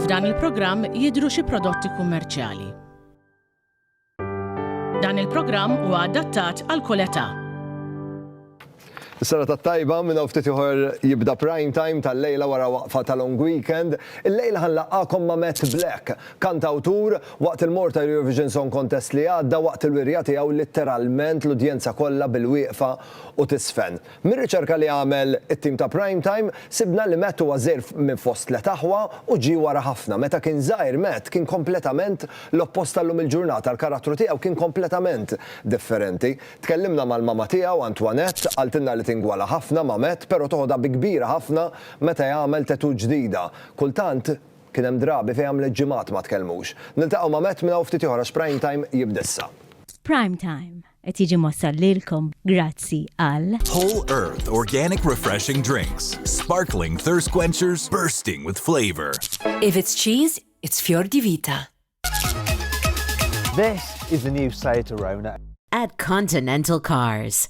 F'dan il-programm jidhru xi prodotti kummerċjali. Dan il-programm huwa adattat għal kull età. Is-sena tat-tajba minn hawn ftit ieħor jibda prime time tal-lejla wara waqfa ta' long weekend. Il-lejla ħanlaqgħakom ma' Matt Black, kantawtur Waqt il-Malta Eurovision Song Contest li għadda, waqt il-wirja tiegħu litteralment l-udjenza kollha bil-wieqfa u tiżfen. Mir-riċerka li għamel it-tim ta' Prime Time, sibna li Matt huwa żgħir minn fost tliet aħwa u ġie wara ħafna. Meta kien żgħir Matt kien kompletament l-oppost tal-lum il-ġurnata, l-karattru tiegħu kien kompletament differenti. Tkellimna mal-mama tiegħu, Antoinette, qaltilna li tingwala ħafna ma' Matt, pero toħodha bi kbira ħafna meta jagħmel tattoo ġdida. Kultant, Kien hemm drabi fejn għamlet ġimgħat ma tkellmux. Niltaqgħu ma' Matt minn hawn ftit ieħor għax Prime Time jibda issa. Prime Time qed jiġi mwassal lilkom grazzi għal. Whole Earth Organic Refreshing Drinks, Sparkling Thirst Quenchers Bursting with Flavor. If it's cheese, it's Fior di Vita. This is the new Seat Arona. At Continental Cars.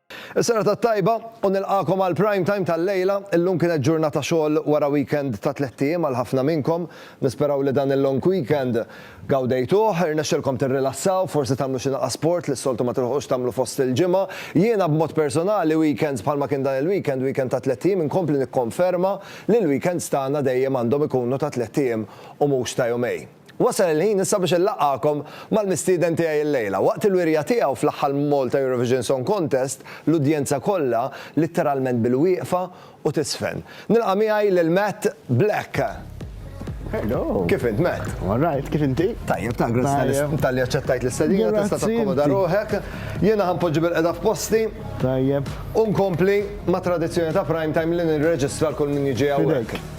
Is-serata t-tajba u nilqagħkom għal Prime Time tal-lejla. Illum kienet ġurnata xogħol wara weekend ta' tlett ijiem għal ħafna minnkom. Nisperaw li dan il-long weekend gawdejtuh, irnexxilkom tirrilassaw, forsi tagħmlu xi naqa' sport li s-soltu ma tilħuqux tagħmlu fost il-ġimgħa. Jiena b'mod personali weekends bħalma kien dan il-weekend, weekend ta' tlett ijiem, inkompli nikkonferma li l-weekends tagħna dejjem għandhom ikunu ta' tlett ijiem u mhux ta' jumejn. Wasal il-ħin issa biex inlaqqagħkom mal-mistieden tiegħi llejla. Waqt il-wirja tiegħu fl-aħħar Malta Eurovision Song Contest, l-udjenza kollha litteralment bilwieqfa u tiżfen. Nilqa' miegħi lil Matt Black. Hello. Kif int, Matt? I'm all right, kif inti? Tajjeb, ta' grazzi talli aċċettajt l-istedina, tista' takkomoda ruħek. Jiena ħanpoġġi bil-qeda f'posti. Tajjeb. U nkompli ma' tradizzjoni ta' prime time li nirreġistra l-kull min jiġi hawnhekk.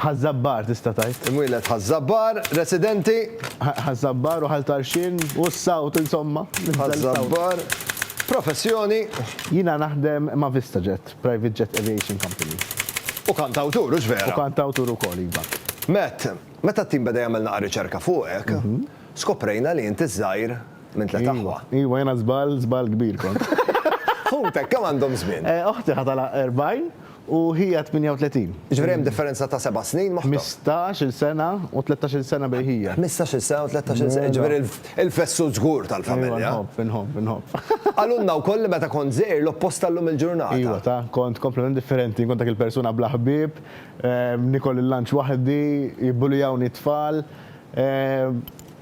Ħaż-Żabbar, tista' tgħid. Imwieled Ħaż-Żabbar, residenti. Ħaż-Żabbar u Ħal Tarxien u s-sawt, insomma, nibża' l-sawt. Ħaż-Żabbar, professjoni. Jiena naħdem ma' VistaJet, private jet aviation company. U kantawtur, hux vera? U kantawtur ukoll, iva. Matt, meta t-tim beda jagħmel naqa' riċerka fuqek, skoprejna li int iż-żgħir minn tliet aħwa. Iva, iva, jiena żball, żball kbir kont. Ħutek kemm għandhom żmien? Oħti ħa tagħlaq 40. U Hija 38. Jiġifieri hemm differenza ta' seba' snin moħta. Ħmistax-il sena u tlettax-il sena bejn Hija. Ħmistax-il sena u tlettax-il sena, jiġifieri l-fessur żgur tal-familja. Ejwa, inħobb, inħobb, inħobb. Qalulna wkoll li meta kont żgħir l-oppost ta' llum il-ġurnata. Ejwa, ta, kont kompletament differenti, inkun dak il-persuna bla ħbieb, niekol il-lunch waħdi, jibbulijawni t-tfal.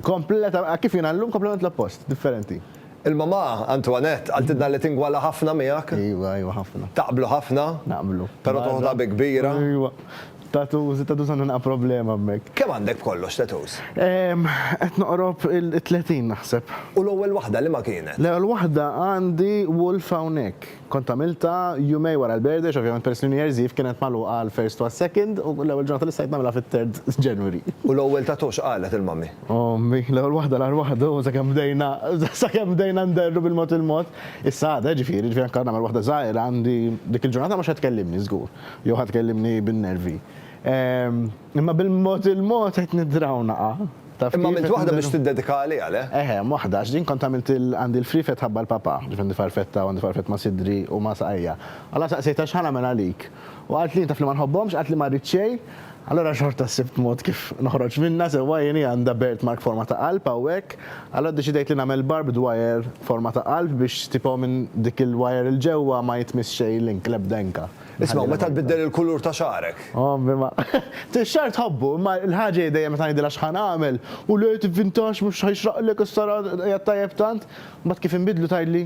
Kompletament, kif jiena llum, kompletament l-oppost, differenti. Il-mamà, Antoinette, qaltilna li tingwala ħafna miegħek. Iva, iva ħafna. Taqblu ħafna. Naqblu. Però toħodha bi kbira. Iva. Tattoos, it-tattoos għandha naqra problema hemmhekk. Kemm għandek b'kollox tattoos? Qed noqrob it-tletin naħseb. U l-ewwel waħda liema kienet? L-ewwel waħda għandi wolf hawnhekk. Kont għamiltha jumej wara l-birthday għax ovvjament peress li New Year's Eve kienet magħluqa għall-first u għas-second u l-ewwel ġurnata li stajt nagħmilha fit-third January. U l-ewwel tattoo x'qalet il-mummy? Ommi, l-ewwel waħda l-aħħar waħda u sakemm bdejna sakemm bdejna nderru bil-mod il-mod. Issa għadha, ġifieri, ġifieri anke nagħmel waħda żgħira għandi dik il-ġurnata mhux ħa tkellimni żgur jew ħa tkellimni bin-nervi. Imma bil-mod il-mod qed nidraw naqa', taf kif? Imma għamilt waħda biex tiddedika għaliha, le? Eħe, hemm waħda, għax din kont għamilt il, għandi l-friefet ħabba l-papà, ġifieri għandi farfetta u għandi farfett ma' sidri u ma' saqajja. Alla saqsejtha x'ħa nagħmel għalik. U qalt li jien taf li ma nħobbhomx, qalt li ma rrid xejn, allura xorta sibt mod kif noħroġ minnha sewwa jien hi għandha birthmark forma ta' qalb hawnhekk, allura ddeċidejt li nagħmel barbed wire forma ta' qalb biex tipo minn dik il-wire 'l ġewwa ma jitmiss xejn l-ink, l-ebda inka. Isma' meta tbiddel il-kulur ta' xagħrek. Ommi ma. Tix-xagħar tħobbu, imma l-ħaġa hi dejjem meta ngħidilha x'ħa nagħmel, u le tivvintax mhux ħa jixraqlek issa ra qiegħed tajjeb tant, mbagħad kif inbiddlu tgħidli,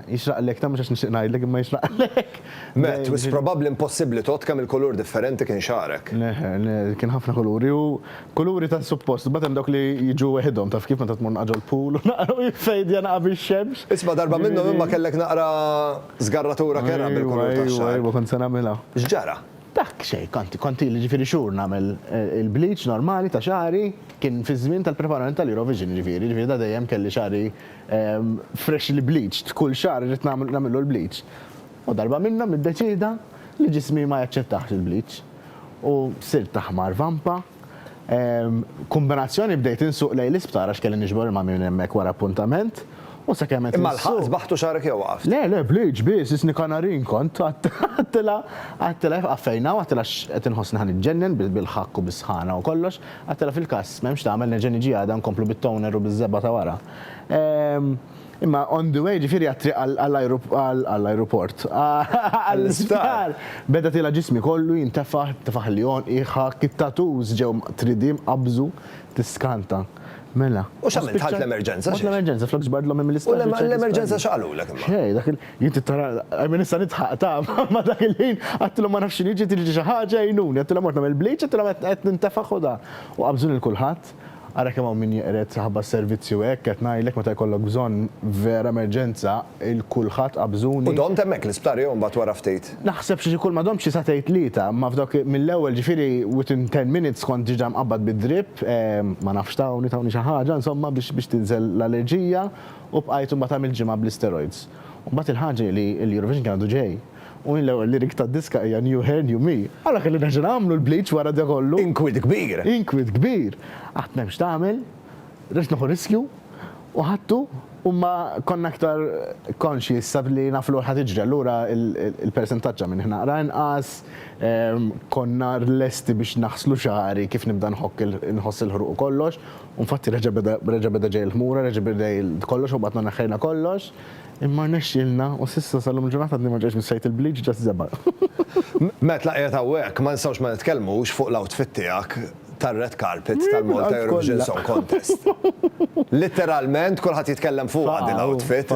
jixraqlek tant mhux għax nixtieq ngħidlek imma jixraqlek. Matt, wisq probabbli impossibbli tgħodd kemm il-kulur differenti kien xagħrek. Le, le, kien ħafna kuluri u kuluri tant suppost, imbagħad hemm dawk li jiġu weħidhom, taf kif meta tmur naqra ġol-pool u naqra u jiffejdja naqra bix-xemx. Isma' darba minnhom imma kellek naqra Żgarratura kerha bil-kulur tax-xagħar. Ejwa, ejwa, kont se nagħmilha. X'ġara? Dak, xejn, kont, kont ili ġifieri xhur nagħmel il-bleach normali ta' xagħri, kien fiż-żmien tal-preparament tal-Eurovision ġifieri, ġifieri da dejjem kelli xagħri freshly bleached, kull xagħar irrid nagħmel, nagħmillu l-bleach. U darba minnhom niddeċieda li ġismi ma jaċċettahx il-bleach. U sirt aħmar vampa. Kombinazzjoni bdejt insuq lejn l-isptar għax kelli niġbor il-mammi minn hemmhekk wara appuntament, u sakemm qed. Imma lħaqt sbaħt u xagħrek jew waqaft? Le, le, b'liġ biss, isni kanarin kont, għedtilha, għedtilha, fqaffejna u għedtilha qed inħossni ħa niġġennen bil-ħakk u bis-sħana u kollox, għedtilha fil-każ m'hemmx tagħmel nerġa' niġi għada nkomplu bit-toner u biż-żebgħa ta' wara. Imma on the way, ġifieri għat-triq għall-ajruport, għall-isptar, beda tiela' ġismi kollu, jintefaħ, tefaħ li għonqi, ħakk, it-tattoos ġew mqtridi, mqabbżu, tiskanta. Mela. U x'għamilt? Dħalt l-emerġenza? Mort l-emerġenza, flok ġbart l-ommi mill-isptar. U l-emerġenza x'qalulek imma? Xejn, dak il-, jien trid tara, I mean issa nidħaq taf, imma dak il-ħin għedtilhom ma nafx x'inhi, ġiet tiġi xi ħaġa għinuni, għedtilhom mort nagħmel bleach, għedtilhom qed nintefaħ u dan. U qabbżuni lil kulħadd. Ara kemm hawn min jeqred saħba servizzi u hekk, qed ngħidlek meta jkollok bżonn vera emerġenza, il-kulħadd qa bżuni. U domt hemmhekk l-isptar jew imbagħad wara ftit? Naħseb xi xikul ma domtx xi sagħtejn tlieta, imma f'dawk mill-ewwel ġifieri within ten minutes kont diġà mqabbad bid-drip, ma nafx tawni, tawni xi ħaġa insomma biex biex tinżel l-allerġija u bqajt imbagħad għamilt ġimgħa bl-isteroids. U mbagħad il-ħaġa hi li l-Eurovision kien għadu ġej. U jien l-ewwel lyric tad-diska hija New Hair New Me. Ara kelli nerġa' nagħmlu l-bleach wara da kollu. Inkwiet kbir! Inkwiet kbir! Qatt m'hemm x'tagħmel, rridx neħu riskju u ħadtu u ma konna iktar conscious sa li naf li ħa tiġri allura l-persentaġġ ta' minn ħnaqra inqas, konna lesti biex naħslu xagħri kif nibda nħokk inħoss il-ħruq u kollox u nfatti reġa' beda reġa' beda ġej il-ħmura reġa' beda kollox u mbagħad ma neħħejna kollox. Imma rnexxielna u s'issa sal-lum il-ġurnata għadni ma ġejtx mis-sajd il-bleach ġast żebgħa. Matt la qiegħed hawnhekk ma nistgħux ma nitkellmux fuq l-outfit tiegħek tar-red carpet tal-Malta Eurovision Song Contest. Litteralment kulħadd jitkellem fuqha din l-outfit.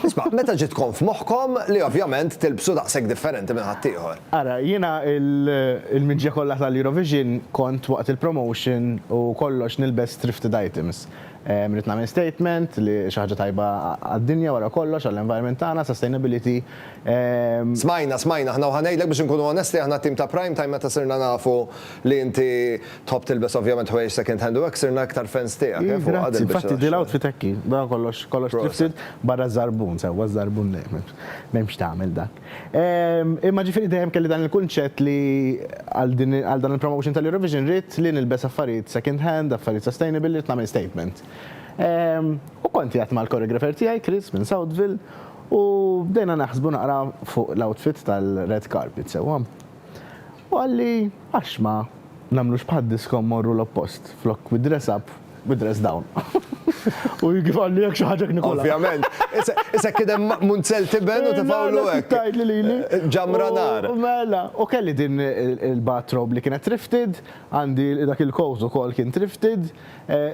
Isma', meta ġiet tkun f'moħħkom li ovvjament tilbsu daqshekk differenti minn ħaddieħor? Ara, jiena il-miġja kollha tal-Eurovision kont waqt il-promotion u kollox nilbes thrifted items. Rrid nagħmel statement li xi ħaġa tajba għad-dinja wara kollox, għall-environment tagħna, sustainability. Smajna, smajna aħna u ħa ngħidlek biex inkunu onesti aħna t-tim ta' Prime Time meta sirna nafu li inti tħobb tilbes ovvjament ħwejjeġ second hand u hekk sirna iktar fans tiegħek eh fuq għad il-biċċa tax-xogħol. Grazzi, infatti din l-outfit hekk hi, barra kollox, kollox thrifted, barra ż-żarbun, sewwa ż-żarbun m'hemmx x'tagħmel dak. Imma ġifieri dejjem kelli dan il-kunċett li għal dan il-promotion tal-Eurovision ridt li nilbes affarijiet second hand, affarijiet sustainable, ridt nagħmel statement. U kont qiegħed mal-choreographer tiegħi, Chris minn Southville, u bdejna naħsbu naqra fuq l-outfit tal-red carpet sewwa. U qalli, Għax ma nagħmlux bħad-disco mmorru l-oppost, flok bi dress up, bi dress down. U kif qalli hekk xi ħaġa hekk nikulha. Ovvjament. Issa kien hemm munzell tiben u tefgħulu hekk. Kif tgħidli lili? Ġamra nar. Mela. U kelli din il-bathrobe li kienet thrifted, għandi dak il-coat ukoll kien thrifted,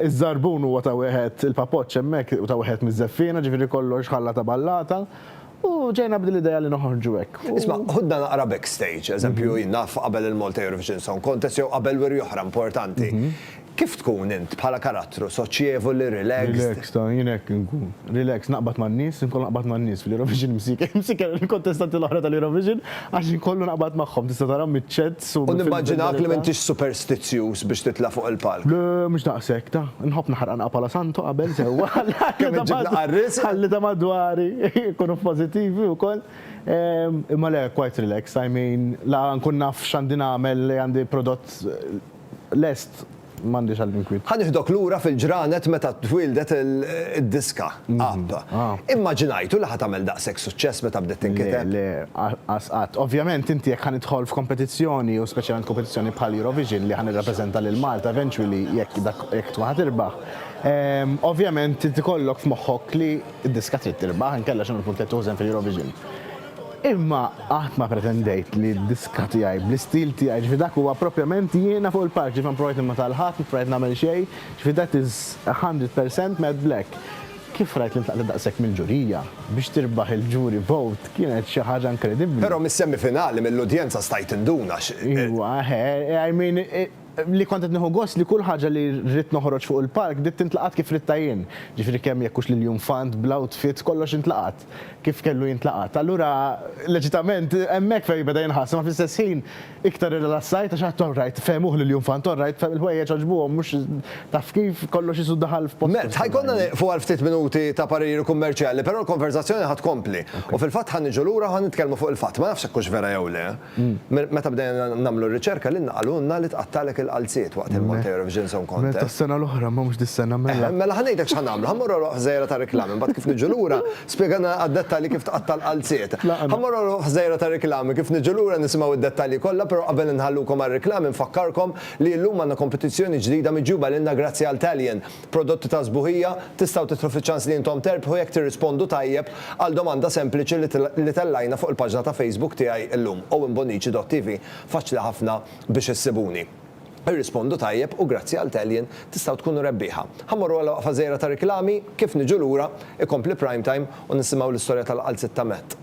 iż-żarbun huwa ta' wieħed, il-papoċċ hemmhekk ta' wieħed miż-żeffiena, ġifieri kollox ħalla ta' ballata. U ġejna b'din l-idea li noħorġu hekk. Isma', ħudna naqra backstage, eżempju, jien naf qabel il-Malta Eurovision Song Contest jew qabel wiri oħra importanti. Kif tkun int bħala karattru, soċjevoli, relaxed? Relaxed, jien hekk inkun. Relaxed, naqbad man-nies, inkun naqbad man-nies fl-Eurovision, imsieker, imsieker il-kontestanti l-oħra tal-Eurovision. Għax inkollu naqbad magħhom, tista' tarahom miċ-chats u. U nimmaġinawk li m'intix superstizzjuż biex titla' fuq il-palk. Le, mhux daqshekk, ta. Nħobb naħraq anqha bħala santo qabel sewwa. Kemm iġġibna qarriesja. Ħalli ta' madwari jkunu pożittivi wkoll. Imma le, quite relaxed, I mean, la nkun naf x'għandi nagħmel li għandi prodott lest. M'għandix għal inkwiet. Ħa nieħdok lura fil-ġranet meta twieldet id-diska, App. Immaġinajtu li ħa tagħmel daqshekk suċċess meta bdiet tinkiteb? Le, le, qas qatt. Ovvjament inti jekk ħa nidħol f'kompetizzjoni u speċjalment kompetizzjoni bħal Eurovision li ħa nirrappreżenta lil Malta eventually jekk dak jekk tkun ħa tirbaħ, ovvjament trid ikollok f'moħħok li d-diska trid tirbaħ inkella x'inhu l-punt li qed tużen fil-Eurovision. Imma qatt ma pretendejt li d-diska tiegħi, bl-istil tiegħi, ġifieri dak huwa proprjament jiena fuq il-palk, ġifieri ma provajt nimita' 'l ħadd, ma provajt nagħmel xejn, ġifieri that is a hundred percent Matt Black. Kif rajt li ntlaqtet daqshekk mill-ġurija, biex tirbaħ il-jury vote kienet xi ħaġa inkredibbli. Però mis-semifinali, mill-udjenza stajt induna x'. Iwa, eħe, I mean, li kont qed nieħu gost li kull ħaġa li ridt noħroġ fuq il-palk bdiet tintlaqat kif ridtha jien, jiġifieri kemm jekk hux l-iljunfant bl-outfit kollox intlaqat kif kellu jintlaqat. Allura leġitament hemmhekk fehmi beda jinħass imma fl-istess ħin iktar irrilassajt għax għedt alright fehmuh l-iljunfant alright fehm il-ħwejjeġ għaġbuhom mhux taf kif kollox qisu daħal f'postu. Matt, ħa jkollna nieqfu għal ftit minuti ta' pariri kummerċjali però l-konverżazzjoni ħa tkompli u fil-fatt ħa niġu lura u ħa nitkellmu fuq il-fatt, ma nafx jekk hux vera jew le. Meta bdejna nagħmlu r-riċerka lilna qalulna li tqattgħalek il-qalziet waqt il-Malta Eurovision Song Contest. Mela tas-sena l-oħra ma mhux dis-sena mela. Mela ħa ngħidlek x'ħa nagħmlu, ħa mmorru għal ħżejra ta' riklami mbagħad kif niġu lura spjegana għad-dettalji kif tqatta' l-qalziet. Ħa mmorru għal ħżejra ta' riklami kif niġu lura nisimgħu id-dettalji kollha però qabel inħallukom għar-riklami nfakkarkom li illum għandna kompetizzjoni ġdida miġjuba lilna grazzi għal Talion Prodotti ta' sbuħija, Tistgħu tidħlu fiċ-ċans li intom terbħu jekk tirrispondu tajjeb għal domanda sempliċi li tellajna fuq il-paġna ta' Facebook tiegħi llum, owenbonnici.tv, Faċli ħafna biex issibuni. Irrispondu tajjeb u grazzi għal tellien tistgħu tkunu rebbieħa. Ħa mmorru għal waqfa żgħira ta' riklami, kif niġu lura, ikompli Prime Time u nisimgħu l-istorja tal-qalziet ta' Matt.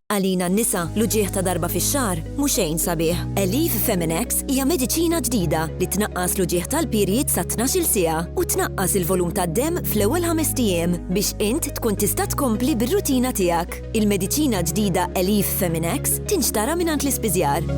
Għalina n-nisa, l-uġigħ ta' darba fix-xahar mhu xejn sabiħ. Aleve Feminex hija mediċina ġdida li tnaqqas l-uġigħ tal-period sa tnax-il siegħa u tnaqqas il-volum tad-demm fl-ewwel ħamest ijiem biex int tkun tista' tkompli bir-rutina tiegħek. Il-mediċina ġdida Aleve Feminex tinxtara mingħand l-ispiżjar.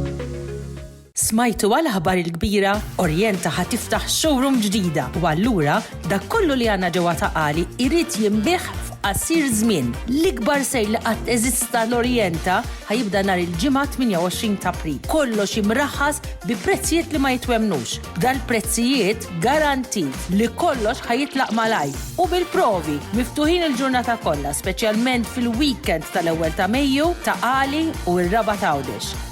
Smajtu għal aħbar il-kbira? Orienta ħa tiftaħ showroom ġdida u allura dak kollu li għandna ġewwa Ta' Qali jrid jinbiegħ f'qasir żmien. L-ikbar sejl li qatt eżista l-Orienta ħa jibda nhar il-Ġimgħa 28 t'April. Kollox imraħħas bi prezzijiet li ma jitwemmnux. B'dal-prezzijiet garantit li kollox ħa jitlaq malajr u bil-provi! Miftuħin il-ġurnata kollha speċjalment fil-weekend tal-ewwel ta' Mejju, Ta' Qali u r-Raba' t'Għawdex.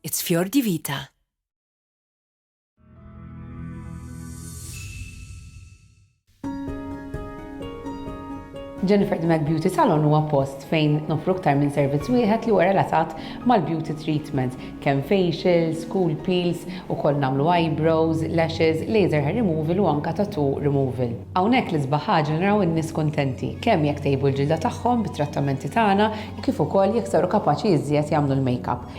It's fior di vita. Jennifer the Mac Beauty Salon huwa post fejn nofru aktar minn servizz wieħed li huwa relatat mal-beauty treatment, kemm facials, cool peels, ukoll nagħmlu eyebrows, lashes, laser hair removal u anka tattoo removal. Hawnhekk l-isbaħ ħaġa naraw in-nies kuntenti, kemm jekk tejbu l-ġilda tagħhom bit-trattamenti tagħna u kif ukoll jekk saru kapaċi iżjed jagħmlu l-makeup.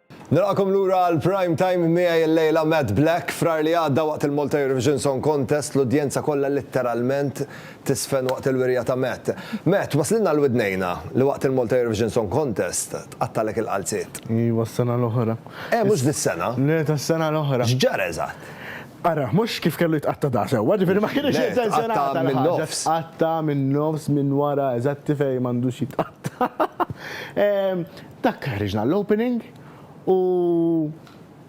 Nilqagħkom lura għal Prime Time miegħi llejla Matt Black. Frar li għadda waqt il-Malta Eurovision Song Contest l-udjenza kollha litteralment tiżfen waqt il-wirja ta' Matt. Matt, waslilna għal widnejna li waqt il-Malta Eurovision Song Contest tqattgħalek il-qalziet. Iva, s-sena l-oħra. Eh, mhux dis-sena? Le, tas-sena l-oħra. X'ġara eżatt? Ara, mhux kif kellu jitqatta' da' sewwa, ġifieri ma kienx intenzjonat għal ħaġa. Tqatta' min-nofs, minn wara, eżatti fejn m'għandux jitqatta'. Dak ħriġna l-opening u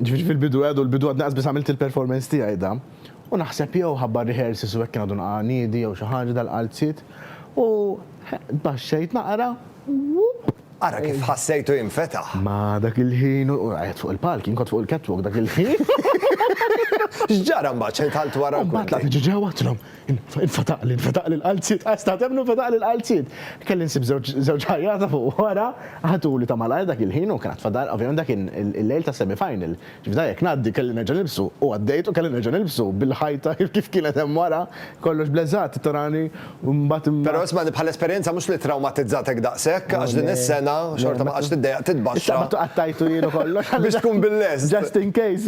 ġifieri fil-bidu għadu l-bidu għadni qasbiss għamilt il-performance tiegħi da u naħseb jew ħabba r-rehearsals u hekk kien għadu naqaqa' niedi jew xi ħaġa dal-qalziet u tbaxxejt naqra u. Ara kif ħassejtu jinfetaħ! Ma dak il-ħin u qiegħed fuq il-palk, jien kont fuq il-catwalk dak il-ħin. X'ġara mbagħad? X'għidt għal twara l-kurtin? U mbagħad tlaqt ġewwa għedtilhom Infetaqli, infetaqli l-qalziet, qas ta' temnu infetaqli l-qalziet. Kelli nsib żewġ ħajjata fuq wara, ħatuli ta' malajr dak il-ħin u kien għad fadal, ovvjament dak kien il-lejl tas-semifinal. Ġifieri jekk ngħaddi kelli nerġa' nilbsu u għaddejt u kelli nerġa' nilbsu bil-ħajta kif kienet hemm wara, kollox bleżat tarani u mbagħad. Però ismagħni bħala esperjenza mhux li trawmatizzatek daqshekk għax din is-sena xorta ma qgħadtx tiddejjaq titbaxxa. Is-Sabatu qattajtu jien u kollox. Biex tkun bil-lest. Just in case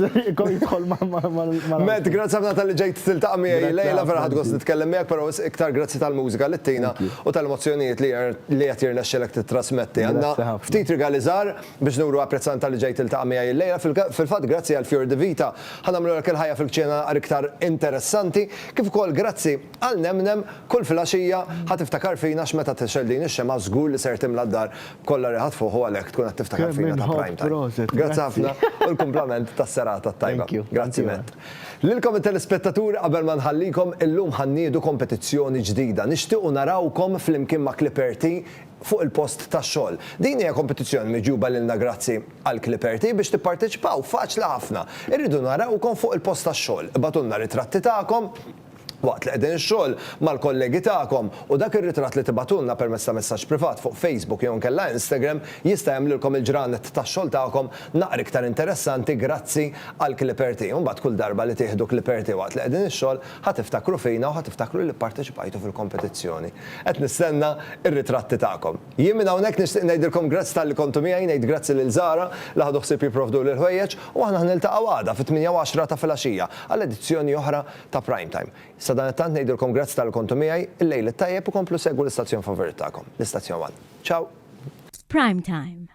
jidħol ma' Matt, grazzi ħafna tal-li ġejt tiltaqa' miegħi lejla, vera ħadd gost nitkellem miegħek, però iktar grazzi tal-mużika li ttina u tal-emozzjonijiet li qed jirnexxilek tittrasmetti. Għandna ftit rigali żgħar biex nuru apprezzament tal-li ġejt tiltaqa' miegħi llejla. Fil-fatt grazzi għal Fior di Vita ħa nagħmlulek il-ħajja fil-kċina naqra iktar interessanti, kif ukoll grazzi għal Nemnem, kull filgħaxija ħa tiftakar fina għax meta tixgħel din ix-xemgħa żgur li ser timla d-dar Kollha riħat fuq u għalhekk tkun qed tiftakar fina ta' prime time. Grazzi ħafna u l-kumplament tas-serata t-tajba. Grazzi Matt. Lilkom it-telespettaturi qabel ma nħallikom, illum ħa nniedu kompetizzjoni ġdida. Nixtiequ narawkom flimkien ma' Clipperti fuq il-post tax-xogħol. Din hija kompetizzjoni miġjuba lilna grazzi għal Clipperti. Biex tipparteċipaw faċli ħafna. Irridu narawkom fuq il-post tax-xogħol. Ibgħatulna ritratti tagħkom. Waqt li qegħdin xogħol mal-kollegi tagħkom u dak ir-ritratt li tibagħtulna permezz ta' messaġġ privat fuq Facebook jew inkella Instagram jista' jagħmlilkom il-ġranet tax-xogħol tagħkom naqra iktar interessanti grazzi għal Clipperty u mbagħad kull darba li tieħdu Clipperty waqt li qegħdin ix-xogħol ħa tiftakru fina u ħa tiftakru li pparteċipajtu fil-kompetizzjoni. Qed nistenna r-ritratti tagħkom. Jien minn hawnhekk nixtieq ngħidilkom grazzi talli kontu miegħi, ngħid grazzi lil Zara li ħadu ħsieb jipprovduli l-ħwejjeġ u aħna ħa niltaqgħu għada fit-tmienja u għaxra ta' filgħaxija għal edizzjoni oħra ta' Prime Time. Sadanittant ngħidilkom grazzi talli kontu miegħi, il-lejl it-tajjeb u komplu segwu l-istazzjon favorit tagħkom, l-Istazzjon One. Ciao! F'Prime Time.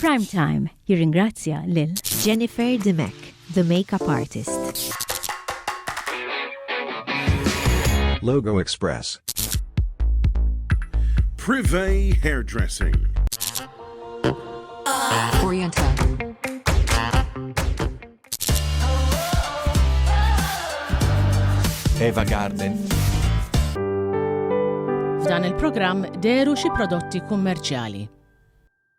Prime Time jirringrazzja lil Jennifer Dimech, the makeup artist. Logo Express. Privé Hairdressing. Oriental. Eva Garden. F'dan il-programm deru xi prodotti kummerċjali.